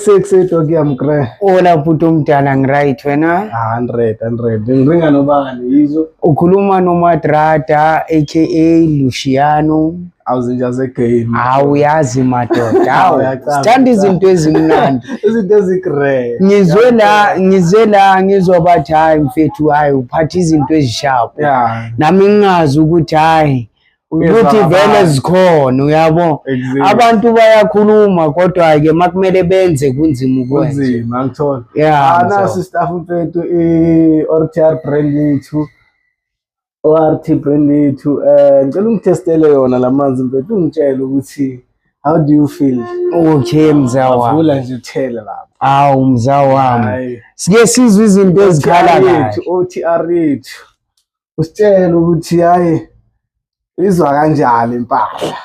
Sexy Toki Amkre. Ola bhuti omdala ngiright wena? 100 100. Ngiringa nobani yizo? Ukhuluma noMadrada aka Luciano. Awuzinja ze game. Hawu yazi madoda. Hawu sithanda izinto ezimnandi. Izinto ezigre. Ngizwe la ngizwe la ngizwa bathi hayi mfethu hayi uphatha izinto ezisharp. Yeah. Nami ngingazi ukuthi hayi ukuthi vele zikhona uyabo abantu bayakhuluma kodwa-ke makumele benze kunzima ukwenzaunzima ngithola anasi ah, staff mfethu i-or t r brand yethu o-r t brand yethu um eh, ngicela ungithestele yona la manzi mfethu ungitshele ukuthi how do you feel okay mzawavula nje uthele lapho awu mzawa wami sike sizwe izinto ezikhala kahle o t r yethu usitshela ukuthi hayi izwa kanjani impahla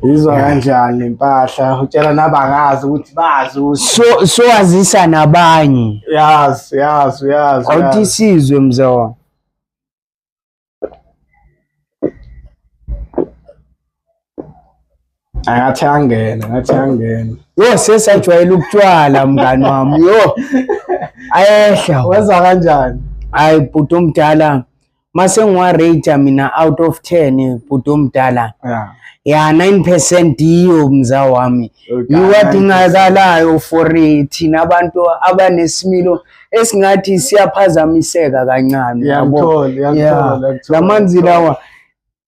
izwa kanjani impahla utshela nabangazi ukuthi bazi so siwazisa nabanye yazi yazi yazi awuthi sizwe mzona Angathi angena, ngathi angena. Yo sesajwayela ukutshwala mngani wami. Yo. Ayehla. Wenza kanjani? Hayi bhuti omdala. Mase ngiwa rate mina out of 10 bhuti omdala. Yeah. Ya 9% yiyo mza wami. Yiwadingakalayo for thina abantu abanesimilo esingathi siyaphazamiseka kancane. Yabo. Lamanzi lawa.